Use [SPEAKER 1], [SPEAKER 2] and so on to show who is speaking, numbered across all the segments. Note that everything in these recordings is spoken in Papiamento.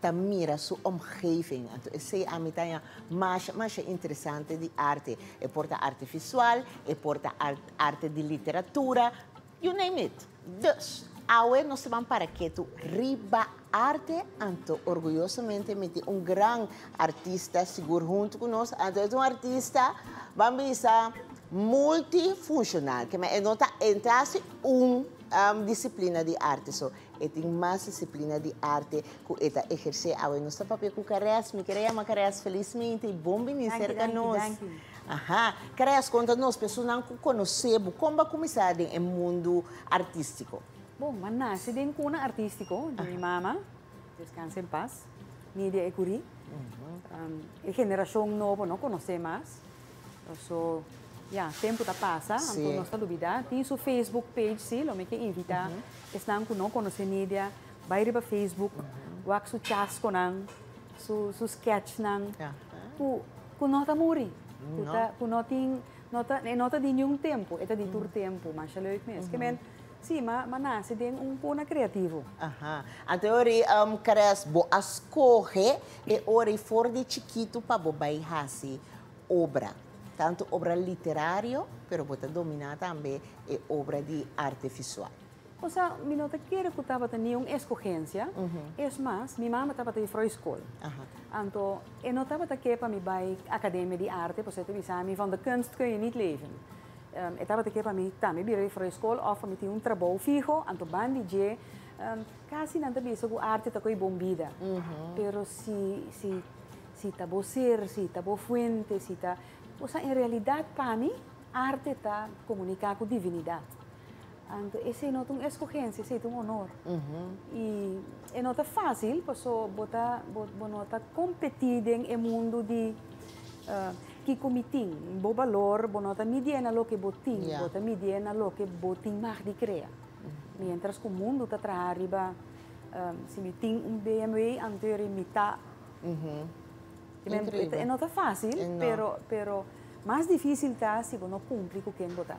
[SPEAKER 1] ta mira su omgeving. Anto esei ami ta haña masha, masha interesante di arte. E por ta arte visual, e por ta arte di literatura, you name it. Dus, awe nos ta ban para ketu riba arte, anto orguyosomente mi tin un gran artista sigur huntu ku nos. Anto e ta un artista, ban bisa, multifunshonal, kema e no ta entra si un disiplina di arte. So. E tin mas disiplina di arte cu e ta eherce awe. Nos ta papia cu Caress. Mi kere yama Caress felismente y bon bini cerca nos. Danki, danki, danki. Aha. Caress, conta nos, personan cu conoce bo, con bo a cuminsa den e mundo artistico? Bon, m'a naci den cuna artistico di mi mama, descansa en paz, Nidia Ecurie. E generacion nobo no conoce mas. So, ya, tempu ta pasa, anto nos ta lubidá, tin su facebook page, si, lo mi ke invitá esnan ku no konosé Nidia, bai riba facebook, wak su chasconan, su sketchnan, ku no ta muri, ku no tin, e no ta di niun tempu, e ta di tur tempu, masha leuk mes. Sí, ma ma nace den un puna creativo. Aha. Anto e ora y Caress bo a scoge e ora y for di chikito pa bo bay haci obra. Tanto obra literario, pero bo ta domina tambe e obra di arte visual. O sea, mi no ta kere cu tabata ni un escogencia, es mas, mi mama tabata juffrouw school. Aha. Anto e no tabata ke pa mi bay academia di arte, pasobra e ta bisa mi van de kunst kun je niet leven. E tabata ke pa mi, ta, mi bira di for di skol òf pa mi tin un trabou fiho, anto ban di dje. Kasi nan ta bisa ku arte ta ko'i bon bida, pero si si si ta bo ser, si ta bo fuente, si ta. Kosa en realidat pa mi arte ta komuniká ku divinidat. Anto ese no ta un escogencia, ese ta un honor. Y e no ta fácil, paso bo ta, bo, bo no ta competi den e mundo di uh, kiko mi tin. Bo valor, bo no ta midié na loke bo tin, Ya. bo ta midié na loke bo tin mag di crea. Mientras cu mundo ta traha riba, um, si mi tin un BMW, anto e mi ta Te men- Increíble. e no ta fácil, No. pero, pero mas difícil ta si bo no cumpli cu ken bo ta.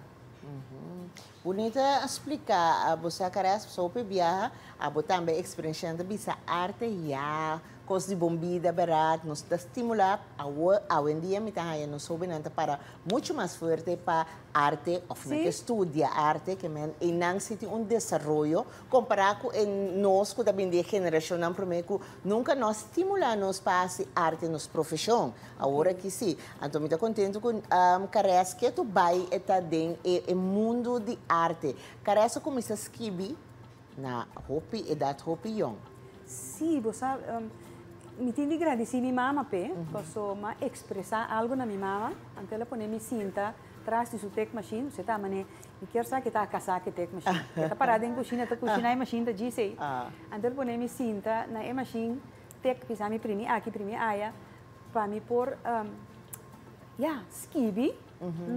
[SPEAKER 1] Bunita a splica a bo sa cara es paso hopi biaha a bo tambe experenciando bisa arte ya cos di bon bida berat nos ta stimula awo awendia mi ta haya nos hobinan ta para mucho mas fuerte pa arte of nan ke studia arte ke men eynan si tin un desaroyo. Kompará ku e nos ku ta bini di e generashonnan promé ku nunka no a stimulá nos pa hasi arte nos profeshon, awor aki sí. Anto mi ta kontentu ku Caressa ketu bai e ta den e mundu di arte. Caressa kuminsá skibi na hopi edat, hopi yòn. Sí, bo sa, mi tin di gradisí mi mama p'e, paso m'a ekspresá algu na mi mama, anto el a pone mi sinta tras di su tekmashin, kusé ta mané. Mi kier sa kita a kasá ku dek mashin. E ta pará den kushina ta kushiná e mashin ta djis ei. Anto el pone mi sinta na e mashin dek bisa mi primi aki primi aya pa mi por ya skibi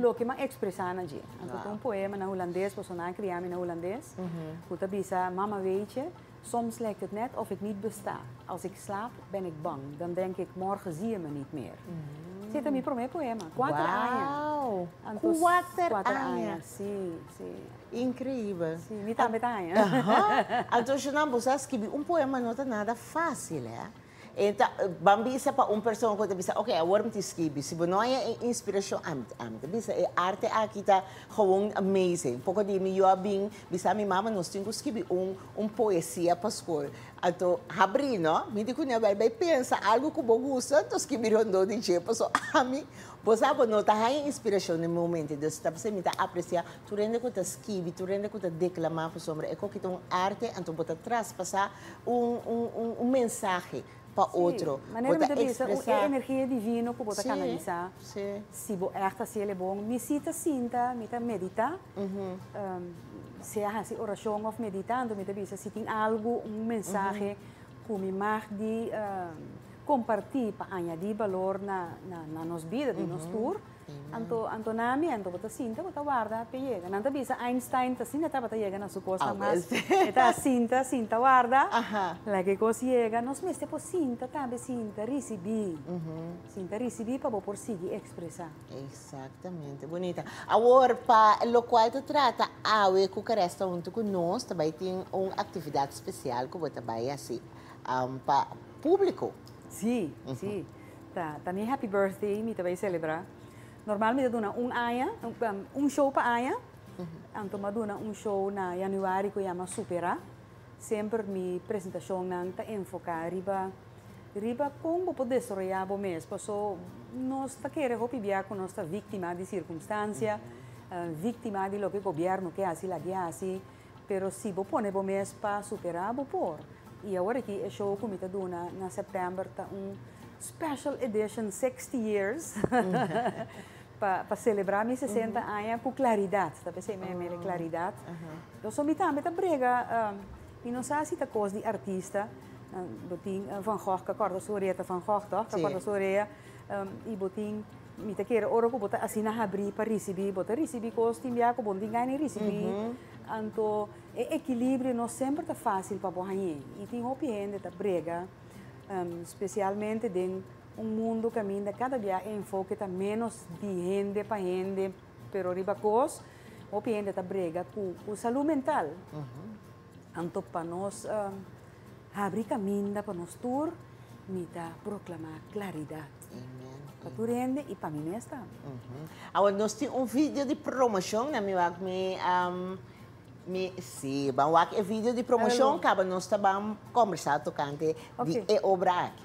[SPEAKER 1] loke m'an ekspresá na dje. Anto ta un poema na hulandes pasobra nan a kria mi na hulandes ku ta bisa mama weetje. Soms lekt het net of ik niet besta. Als ik slaap, ben ik bang. Dan denk ik, morgen zie je me niet meer. Si ta mi prome poema. Kuater aña. Wow! Anto Kuater kuater aña. aña. Si, si. Increíbel. Si, mi tambe ta aña. Ahan. Anto Shernan, boso a skibi un poema no ta nada fácil, hè? E ta ban bisa pa un persona ku ta bisa oke awor mi tin skibi si bo no haya e inspirashon ami ami ta bisa e arte aki ta gewoon amazing poko di mi yo a bin bisa mi mama nos tin ku skibi un un poesia pa skol anto habri no mi di kuné wèl bai pensa algu ku bo gusta anto skibi rondó di dje paso ami bo sa bo no ta haya inspirashon den momento entonces ta p'esei mi ta apresia Tur hende ku ta skibi, tur hende ku ta deklamá ku sombra, e kòkita un arte, anto bo ta traspasá un un mensahe pa otro. Si, manera mi ta bisa, e energia divino ku bo ta kanalisá. Si, si. Si bo ègt hasi el e bon. Mi si ta sinta, mi ta meditá, sea hasi orashon òf meditá, anto mi ta bisa si tin algu, un mensahe ku mi mag di kompartí pa añadí balor na nos bida di nos tur. Anto, anto na miento bo ta sinta, bo ta warda p'e yega. Nan ta bisa Einstein ta sinta tabata yega na su cosa mas. E ta sinta, sinta warda. Like e cos yega. Nos mester por sinta tambe, sinta ricibi. Sinta ricibi pa bo por sigui expresa. Exactamente. Bonita. Awor, pa locual ta trata awe cu Caresta hunto cu nos, ta bay tin un actividad special cu bo ta bay haci pa publico. Si, si. Ta ta mi happy birthday mi ta bay celebra normal mi ta duna un aña un show pa aña anto mi a duna un show na januari cu a yama supera semper mi presentacionnan ta enfoca riba riba con bo por desaroya bo mes paso nos ta kere hopi bia cu nos ta victima di circunstancia victima di loke gobierno ke haci laki haci. Pero si bo pone bo mes pa supera bo por. Y awor aki e show cu mi ta duna na September ta un special edition sixty years pa celebra mi sesenta aña cu claridad, ta pens'e mi mede claridad. So mi tambe ta brega, mi no sa si ta cos di artista, bo tin Van Gogh ca corta su orea ta Van Gogh toh, ca corta su orea y bo tin. Mi ta kere ora ku bo ta asina habri pa risibí, bo ta risibí kos tin bia ku bo no tin gana di risibí. Anto e ekilibrio no semper ta fásil pa bo hañ'é. I tin hopi hende ta brega, spesialmente den un mundu kaminda kada bia e enfoke ta ménos di hende pa hende, pero riba kos hopi hende ta brega ku ku salú mental. Anto pa nos habri kaminda pa nos tur, mi ta proklamá klaridat pa tur hende i pa mi mes tambe. Awor nos tin un video di promoshon na mi wak mi mi si ban wak e video di promoshon kaba nos ta ban kombersá tokante di e obra aki.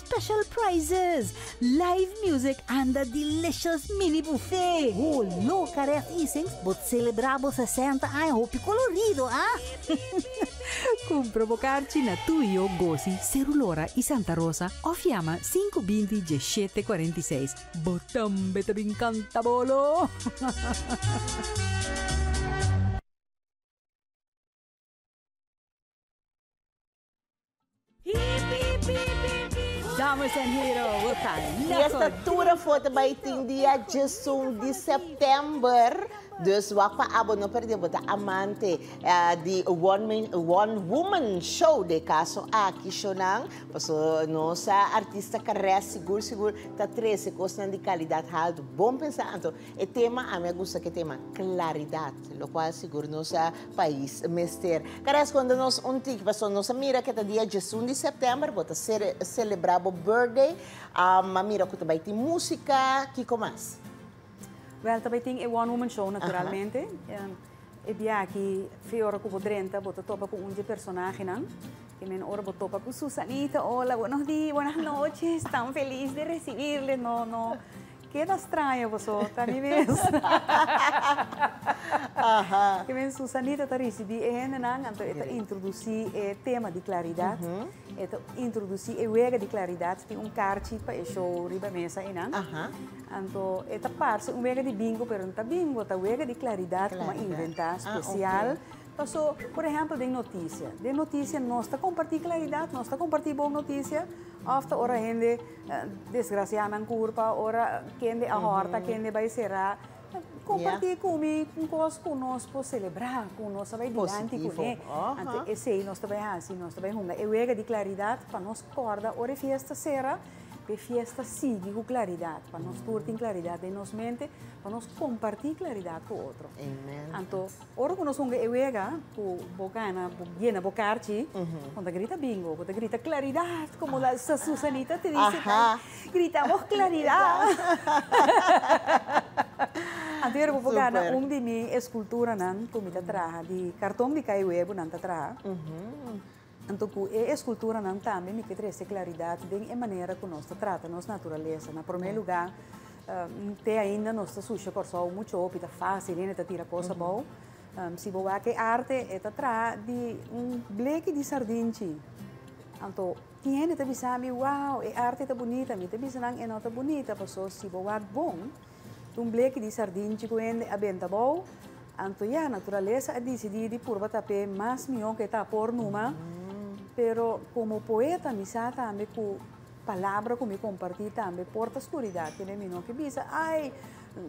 [SPEAKER 1] Special prizes! Live music anda delicious mini buffet! Ho lo Caret Easings bo celebra bo sesenta aña hopi colorido, a! Cumpra bo carchi na Tuyo, Gosi, Cerulora y Santa Rosa of yama sinku binti diesshete cuarenta y seis. Bo tambe ta bin canta bolo! Dames en heren, we gaan Y naar esta het toera diep foto bay diepe tin dia diepe diesun di diepe september. Dus wak pa abo, no perdé bo ta amante eh, di one man, one woman show de caso aki shownan. Paso nos ah, artista carré sigur sigur ta trece cosnan di calidad halto. Bon pensa anto. E tema, a mi a gusta cu e tema claridad, locual sigur nos a pais mester. Cada esconde nos un tiki pasobra nos a mira que ta dia diesun di septiember bo ta celebra bo birthday um mira cu ta bay tin musica kico mas? Wel ta bay tin e one woman show naturalmente e bia aki fe ora cu bo drenta bo ta topa cu un dje personahenan e men ora bo topa cu Susanita hola buenos dias buenas noches tan feliz de recibirles no no. Ke ta straña boso ta mi mes? Ke men Susanita ta risibi e hendenan anto e ta introdusí e tema di klaridat. E ta introdusí e wega di klaridat tin un karchi pa e show riba mesa einan. Anto e ta parse un wega di bingo pero no ta bingo ta wega di klaridat ku a inventá spesial. Paso por ehèmpel den notisia, den notisia nos ta kompartí klaridat, nos ta kompartí bon notisia òf ta ora hende. Desgracia nan curpa ora kende a horta kende bai sera comparti cu mi un cos cu nos por celebra cu nos ta bai dianti cu ne anto esey nos ta bai haci nos ta bai hunga e wega di claridad pa nos corda ora e fiesta sera pa e fiesta sigui cu claridad pa nos tur tin claridad den nos mente pa nos comparti claridad cu otro anto. Ora cu nos hunga e wega cu bo gana, bo yena bo carchi, bo ta grita bingo, bo ta grita claridad, como la Susanita ta dici tai, gritamos claridad. Anto yera cu bo gana un di mi esculturanan cu mi ta traha di carton di cai huevo nan ta traha. Anto ku e eskulturanan tambe mi ke trese klaridat den e manera ku nos ta trata nos naturalesa. Na promé lugá, te ainda nos ta susha Kòrsou muchu hopi, ta fásil hende ta tira kos abou. Si bo wak e arte, e ta traha di un bleki di sardinchi. Anto tin hende ta bisa mi, Wow, e arte ta bunita! Mi ta bisa nan, E no ta bunita, pasobra si bo wak bon, Un bleki di sardinchi ku hende a benta bou. Anto ya, naturalesa a disidí di purba tap'é mas mihó ku e ta apor numa. Pero komo poeta mi sa tambe ku palabra ku mi kompartí tambe por ta skuridat. Kende mi no ke bisa, ai,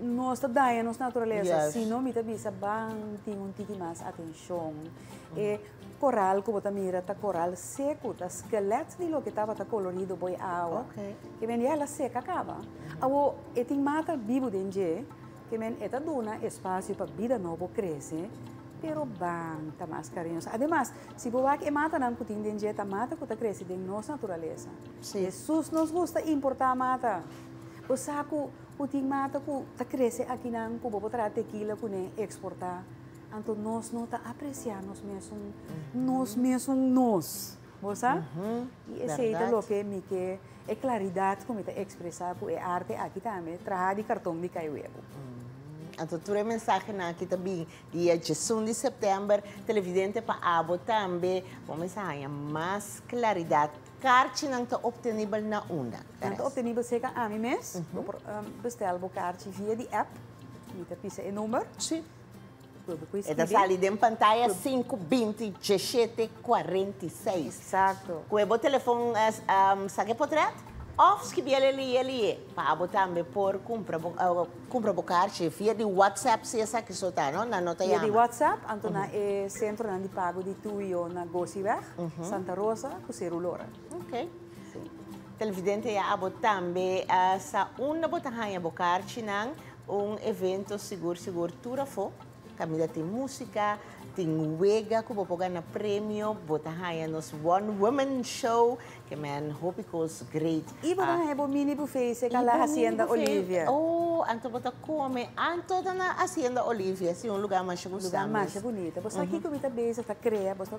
[SPEAKER 1] nos ta daña nos naturalesa, sino mi ta bisa, ban tin un tiki mas atenshon. E Coral cu bo ta mira ta coral secu, ta skelet di loke tabata colorido boy awa. Ke men ya la seca caba. Awo e tin mata bibu den dje, ke men e ta duna espacio pa bida nobo crece, pero ban ta mas cariñoso. Ademas, si bo wak e matanan cu tin den dje ta mata cu ta crece den nos naturaleza. Jesus nos gusta importa mata. Bo sa cu cu tin mata cu ta crece akinan cu bo por traha tequila cune exporta. Anto nos no ta apreciá nos mesun, nos mesun nos. Bo sa? I esei ta loke mi ke e claridad ku mi ta expresá ku e arte aki tambe traha di karton di kai webu. Anto tur e mensahenan aki ta bini di e djesun di sèptèmber. Televidente pa abo tambe, bo mester haña mas claridad. Karchinan ta optenibel na unda? Nan ta optenibel seka ami mes. Bo por bèstèl bo karchi via di app, mi ta pisa e number. E ta sali den pantaya sinku binti diashete kuarenta i seis. Ku e bo telefon sak e potret òf skibi el aliye aliye pa abo tambe por kumpra bo karchi via di whatsapp si esaki so ta no nan no ta yama. Via di whatsapp anto na e sentronan di pago di TUIO na Gosiweg, Santa Rosa ku Seru Lora. Ok. Televidente ya abo tambe a sa unda bo ta haña bo karchinan. Un evento sigur sigur tur afo. Caminda tin música, tin wega cu bo por gana premio, bo ta haña nos One Woman Show, que men hopi cos great. Y bo ta haña bo mini buffet cerca la Hacienda Olivia. Oh, anto bo ta come anto na Hacienda Olivia, si un lugar masha gustando. Lugar masha bunita. Bo sa kico mi ta bezig ta crea, bo sa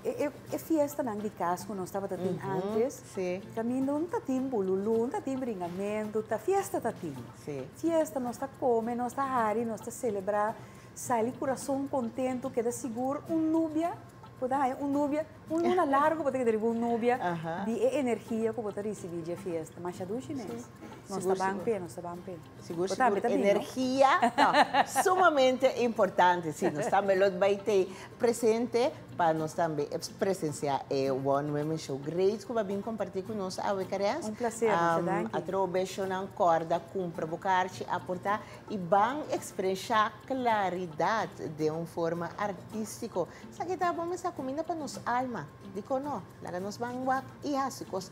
[SPEAKER 1] E fiestanan di kas ku nos tabata tin antes, kaminda no ta tin bululú, no ta tin bringamentu, ta fiesta ta tin. Fiesta nos ta kome, nos ta hari, nos ta selebrá, sali kurason kontentu, keda sigur un nubia, bo ta haña un nubia, un luna largu bo ta keda riba un nubia di e energia ku bo ta risibí dje fiesta. Masha dushi mes, nos ta ban p'e, nos ta ban p'e. Sigur sigur energia ta sumamente importante si nos tambe lo bai te presente pa nos tambe presencia e one women show great cu bo a bini comparti cu nos awe Carens un placer masha danki atrobe shownan corda cumpra bo carchi a porta y ban expresa claridad de un forma artistico esaki ta bo mester caminda pa nos alma dicon no laga nos ban wak y haci cos